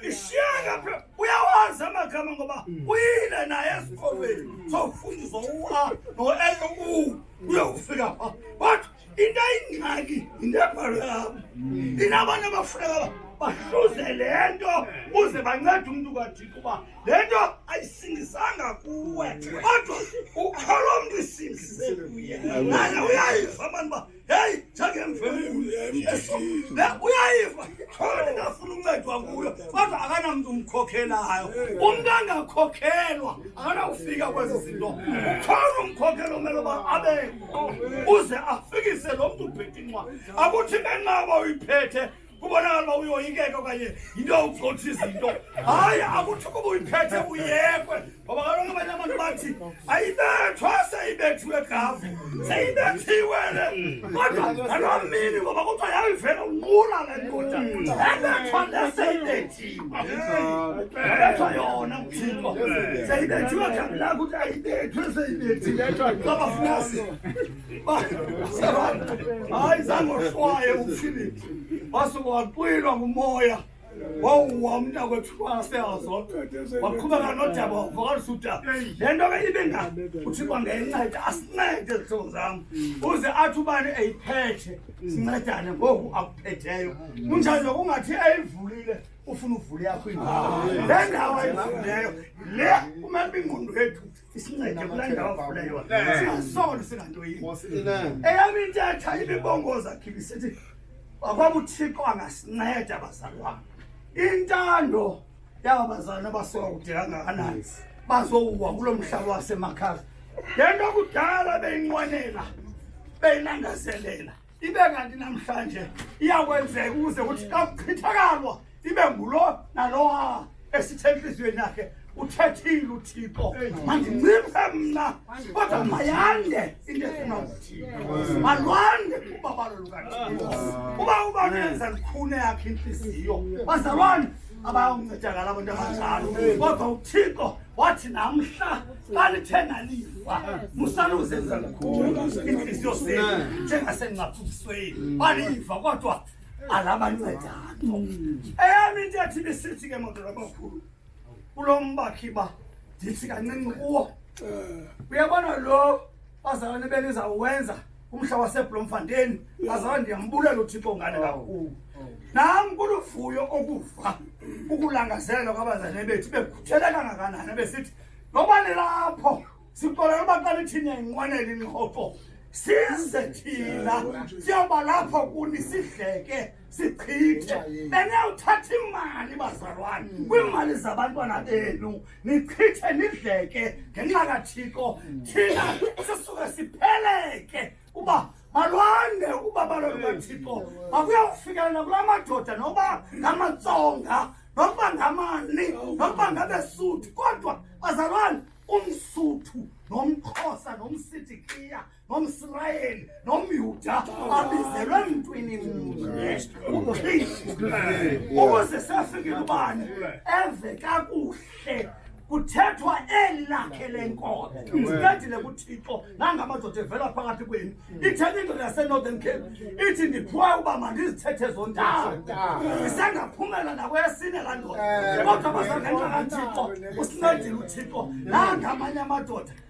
ishiyeke phela uyawazi amagama ngoba mm. uyile naye esikolweni mm. sawufundiswa u-a no-a u uyokufika pha but into ayingxaki yinto ebhalwe apha mm. inabantu abafuneka bahluze le nto uze bancede umntu kathixo uba le nto ayisindisanga kuwe kodwa ukholo mntu isindise kuye naye uyayiva abantu uba Hey, chake mfemuli. La uyayiva. Khona ngafuna uncedwa nguyo. Kodwa akana mntu umkhokhelayo. Umuntu angakhokhelwa, akana ufika kwezi zinto. Khona umkhokhelo umelo ba abe uze afikise lo mntu ubhedinqwa. Akuthi ngenqaba uyiphethe kubonakala uba uyoyikeka okanye yinto yokugcotha izinto hayi akuthi ukuba uyiphethe uyekwe ngoba kaloku abanye abantu bathi ayibethwa seyibethiwe gavu seyibethiwe le kodwa ngaloo mini ngoba kuthiwa yayivela unqula le ndoda ebethwa le seyibethiwe ebethwa yona kuthixo seyibethiwe gavu lakho ukuthi ayibethwe seyibethiwe kwabafunasi Hayi zange ohlwaye uPhilip. Wase waqwilwa ngumoya. wawuwa umntakwethu kwaseyazodwa waqhubeka nodaba wavakalisa udaba le nto ke ibe ngani uthixo ngenceda asincede zihlobo zam uze athi ubani eyiphethe sincedane ngoku akuphetheyo kunjani nokungathi eyivulile ufuna uvule yakho indawo le ndawo ayivuleyo le kumele uba ingqondo yethu eyamintetha imibongoza khibi sithi akwabuthixo angasinceda bazali wam intando yaba bazalwana basoka kude kangakanani bazowuwa kulo mhlaba wasemakhazi le nto kudala beyinqwenela beyinangazelela ibe kanti namhlanje iyakwenzeka ukuze kuthi xa kuchithakalwa ibe ngulo nalowa esithe entliziyweni yakhe uthethile uthixo mandinciphe mna kodwa mayande into efuna uthixo malwande ubabalo lukathixo uba uba nenza lukhune yakhe intliziyo bazalwane abayoncedakala abantu abanjalo kodwa uthixo wathi namhla xa lithe naliva musaluzenza lukhulu iintliziyo zenu njengasengcaphukisweni baliva kodwa alabancedakho eyami into yathi bisithi ke madoda amakhulu kulo mbakhi ba ndithi kancinci kuwo uyabona lo bazalwane benu izawuwenza umhla waseblomfanteni azaba ndiyambulela uthixo ngane kakhulu nam kuluvuyo okuva ukulangazelela kwabazane bethu bekhuthele kangakanani besithi noba nilapho sixolela uba xa lithini yayinqwenela ingxoxo size thina siyoba lapho kuni sidleke sichithe benewuthatha imali bazalwane mm. kwiimali zabantwana benu nichithe nidleke ngenxa kathixo mm. thina sisuke sipheleke uba malwande uba baloni kathixo makuyawufikelela kula madoda noba ngamatsonga nokuba ngamani nokuba ngabesuthu kodwa bazalwane umsuthu nomxhosa nomsitikhiya nomsrayeli nomyuda abizelwe emntwini mnye ukristu ukuze safikele ubani eve kakuhle kuthethwa eli lakhe lenkobe ndicedile kuthixo nangamadoda evela phakathi kwenu ithetha indoda yasenorthern cape ithi ndiphiwe uba mandizithethe zondawo ndisengaphumela nakweyesine laa ndoda kodwa bazangenxa kathixo usincedile uthixo nangamanye amadoda